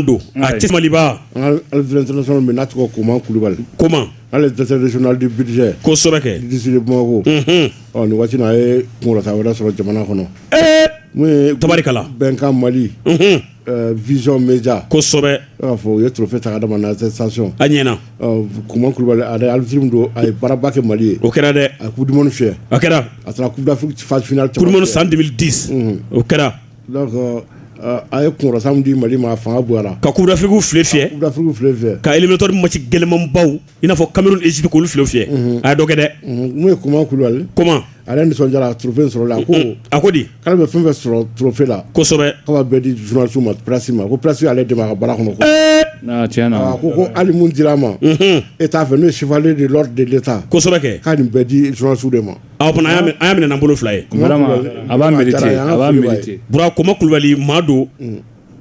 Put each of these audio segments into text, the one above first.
don a tɛ maliba na tɔgɔ koman kulubali ko ale dɛsɛdi bidise bamakɔ nin waati a ye kunta wɛrɛ sɔrɔ jamana kɔnɔ n'o ye tari bɛnkan mali vz bɛja kosɛbɛ b'a fɔ u ye tofe ta adama saɔn a ɲɛna kuma kulubali aliz don a ye baraba kɛ mali ye o kɛra dɛ a ku duman fi a kɛra a taara ku san di o kɛra A ye kɔrɔsan di mali ma fanga bɔ la ka kudafifu fi fi kato masi gɛlɛnman baw i n'a fɔ kamalenri isubi olu fi fi a dɔgɔ dɛ n'u ye kuma kulubali ale nisɔn a turufe sɔrɔ la ko a ko di ala bɛ fɛn sɔrɔ turufe la bɛɛ di jsiw ma psi ma ko psi ale de ka bara kɔnɔ ko ko ali di a ma e t'a fɛ n'o sifalen de de ta kosɛbɛ k'a nin bɛɛ di jsiw de ma O tuma an y'a minɛ n'an bolo fila ye a b'a mérité bura koman kulubali maa don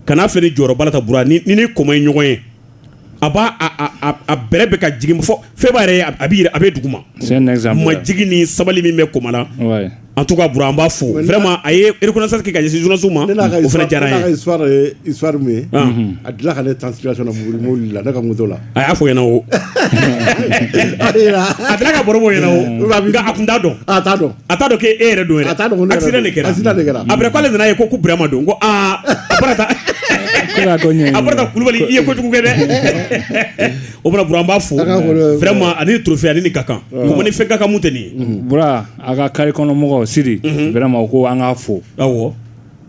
kana filɛ ni jɔyɔrɔba la ta bura n'i ni koman ye ɲɔgɔn ye a b'a a bɛrɛ bɛ ka jigin fo fɛn b'a yɛrɛ a bɛ a bɛ duguma majigin ni sabali min bɛ koman la en tout cas bura an b'a fo vraiment a ye reconnaissance kɛ ka ɲɛsin journalistew ma o fana diyara an ye a delila ka ne tan mobili la ne ka moto la a y'a fɔ ɲɛna o a delila k'a baro bɔ ɲɛna o nka a tun t'a dɔn a t'a dɔn a t'a dɔn k'e yɛrɛ don yɛrɛ a t'a dɔn accident de kɛra accident de kɛra après k'ale nana a ye ko ko Burama don ko aa a bɔra ta a bɔra ta Kulubali i ye kojugu kɛ dɛ o tuma Bura an b'a fo vraiment a ni trophée a ni nin ka kan Koman ni fɛn ka kan mun tɛ nin ye Bura a ka carré kɔnɔ mɔgɔw Sidi vraiment u ko an k'a fo awɔ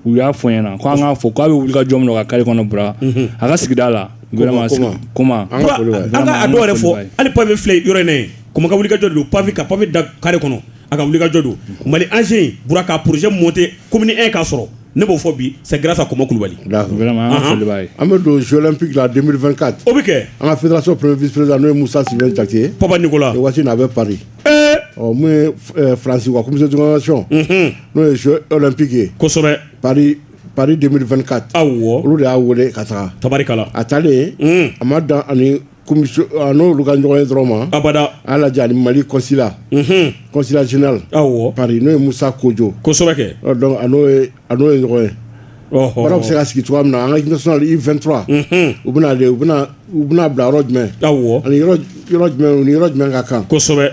u y'a fɔ ɲɛna ko an k'a fo k'a bɛ wuli ka jɔ min ka carré kɔnɔ bura mhm. a ka sigida la vraiment an ka a dɔw yɛrɛ fɔ hali pavé filɛ yɔrɔ in na ye Koman ka wuli ka jɔ don pavé ka pavé da carré kɔnɔ a ka wuli ka jɔ don mhm. mali anse bura ka projet monté commune 1 k'a sɔrɔ ne b'o fɔ bi c'est grâce à Koman Kulubali. An bɛ don Jeux olympiques la 2024. O bɛ kɛ. An ka fédération premier vice président n'o ye Musa Sylvain Jakite ye. Papa Nicolas. Waati in na a bɛ Paris. ɔ mun ye eh, faransi ka commission de organisation mhm. n'o ye jeux olympique ye kosɛbɛ paris paris 2024 awɔ olu de y'a wele ka taga tabarikala a taalen mhm. a ma dan ani commission a n'olu ka ɲɔgɔn ye dɔrɔn ma abada a y'a lajɛ ani mali consulat mhm. consulat général awɔ paris n'o ye musa kojo kosɛbɛ kɛ donc a n'o ye a n'o ye ɲɔgɔn ye baara bɛ se ka sigi cogoya min na an ka équipe nationale U23 u bɛna u u bɛna bila yɔrɔ jumɛn ani yɔrɔ jumɛn ka kan kosɛbɛ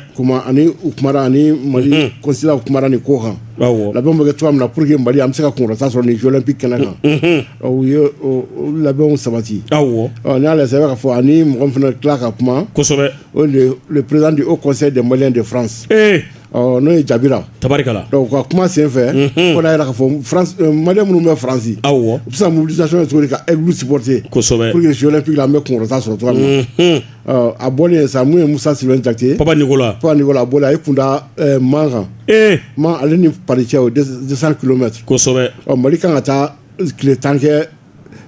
ani u ani mali consulat u kumana nin ko kan labɛn bɛ kɛ cogoya min na pour que mali an bɛ se ka kunkɔrɔta sɔrɔ nin jeux olympiques kɛnɛ kan u ye labɛnw sabati n'i y'a lajɛ i bɛ se k'a fɔ ani mɔgɔ min fana tila ka kuma kosɛbɛ président du haut conseil des maliens de france Ɔ n'o ye jara tari ka kuma senfɛ jira fɔ mali minnu bɛ faransi aw u bɛ se mobilisati cogo ka epte kosɛbɛ an bɛ kunta sɔrɔ cogo min na a bɔ sa ye musa si jatela a a kunda man kan ma ale ni pacɛ o kulomɛ kosɛbɛ mali kan ka taa tile tankɛ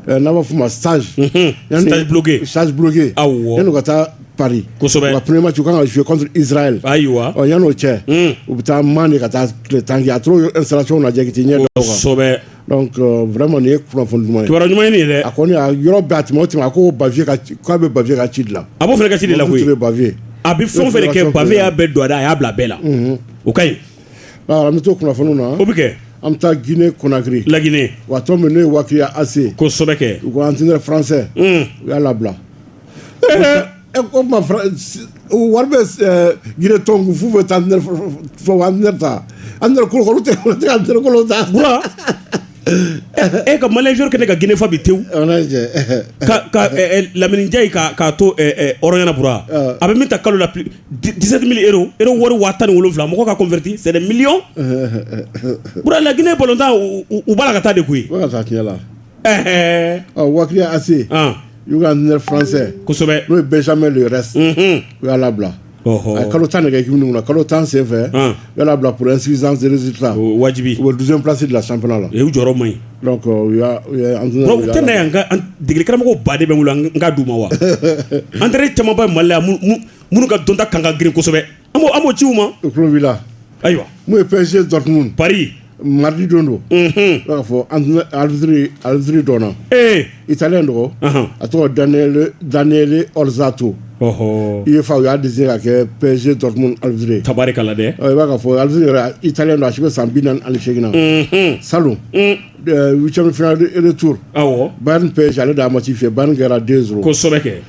eh, n'a b'a fɔ ma stage mhm. stage bloqué stage bloqué awɔ yanni u ka taa Paris kosɛbɛ wa premier match u kan ka jouer contre Israël ayiwa ɔ yanni o cɛ mhm. u bɛ taa Man de ka taa tile tan kɛ a t'o installation lajɛ k'i t'i ɲɛ da o kan kosɛbɛ donc euh, vraiment nin ye kunnafoni duman ye kibaruya ɲuman ye nin ye dɛ a kɔni a yɔrɔ bɛɛ a tɛmɛ o tɛmɛ a ko Bavieux ka k'a bɛ Bavieux ka ci de la a b'o fana ka ci de la koyi Bavieux a bɛ fɛn o fɛn de kɛ Bavieux y'a bɛɛ don a da a y'a bila a bɛɛ la o ka ɲi An bɛ to kunnafoni na o bɛ kɛ an bɛ taa gine konari laginɛ wa min ne ye waatiya ase ko sokɛ u ko an tɛ faransɛ u y'a labila e ko wari bɛ gine tɔn fu bɛ taa an ta an kolo tɛ kolo ta e ka manjuru kɛ ne ka gfa bi te laminijɛ k'a to ɲɛnaura a bɛ min ta kalo la 17 mille euros euro wari waa tan ni wolonwula mɔgɔ ka converti c'est des millions bura la Guinée balontan u b'a la ka taa de koyi u b'a ka taa tiɲɛ la ɛɛ ɔ Wakriya AC u ka entraîneur français kosɛbɛ n'o ye Benjamin Le Rest u y'a labila a ye kalo tan de kɛ équipe nin kunna kalo tan senfɛ y'a labila pour insuffisance de résultat wajibi u bɛ douzième place de la championnat la u jɔyɔrɔ man ɲi donc u y'a u tɛ na yan ka degeli karamɔgɔ ba de bɛ n bolo n k'a d'u ma wa entraîneur caman bɛ Mali la minnu ka dɔnta kan ka girin kosɛbɛ an b'o an b'o ci u ma u tulo b'i la ayiwa mun ye PSG Dortmund Paris Maridi don don i b'a fɔ aliziri dɔn i taalen dɔgɔ a tɔgɔ dalen zsato i ye fa u y'a di se ka kɛ pzse dɔrɔn alize tari dɛ i b'a fɔ aliz i taalen don a si bɛ san bi ali seginna na sa tu ba ni pe ale' a ma ci fɛ ban kɛra den kosɛbɛ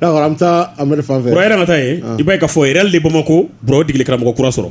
D'accord an bɛ taa Amadu fan fɛ, Burama e yɛrɛ ka taa yen, i b'a ye k'a fɔ Réal de Bamako Bura o ye degelikaramɔgɔ kura sɔrɔ